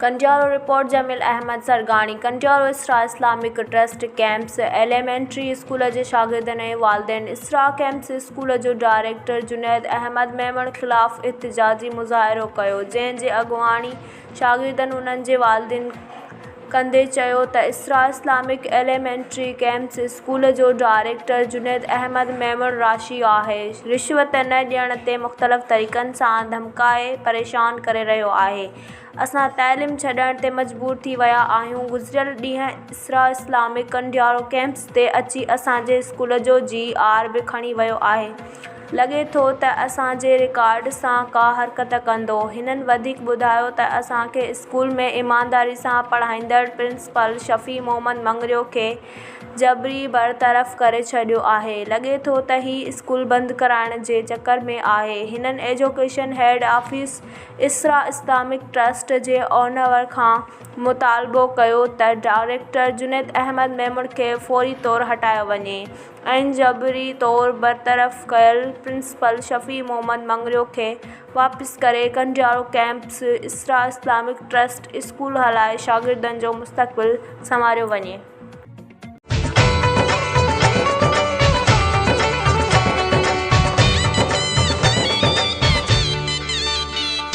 Kandiaro, report, Jamil Ahmed Sargani, Kandiaro Isra Islamic trust campus elementary school جي شاگردن ۽ والدين اسرا ڪيمپس اسڪول جو ڊائريڪٽر جنيد احمد ميمڻ خلاف احتجاجي مظاهرو ڪيو جنهن جي اڳواڻي شاگردن انهن جي والدين ڪندي چيو ته Isra Islamic elementary campus school جو ڊائريڪٽر جنيد احمد ميمڻ راشي آهي رشوت نه ڏيڻ تي مختلف طريقن سان ڌمڪائي پريشان ڪري رهيو آهي اسان تعليم ڇڏڻ تي مجبور ٿي ويا آهيون گذريل ڏينهن اسرا اسلامڪ ڪنڊيارو ڪيمپس تي اچي اسان جي اسڪول جو جي آر به کڻي ويو آهي لڳي ٿو ته اسان جي رڪارڊ سان ڪا حرڪت ڪندو. هنن وڌيڪ ٻڌايو ته اسان کي اسڪول ۾ ايمانداري سان پڙهائيندڙ پرنسپل شفيع محمد مڱريو کي جبري برطرف ڪري ڇڏيو آهي. لڳي ٿو ته هي اسڪول بند ڪرائڻ جي چڪر ۾ آهي. هنن education head office Isra Islamic trust جي اونور کان مطالبو ڪيو ته ڊائريڪٽر جنيد احمد ميمڻ کي فوري طور هٽايو وڃي. ۽ جبري طور برطرف ڪيل پرنسپل شفيع محمد مڱريو کي واپس ڪري Kandiaro campus Isra Islamic trust school هلائي شاگردن جو مستقبل سنواريو وڃي.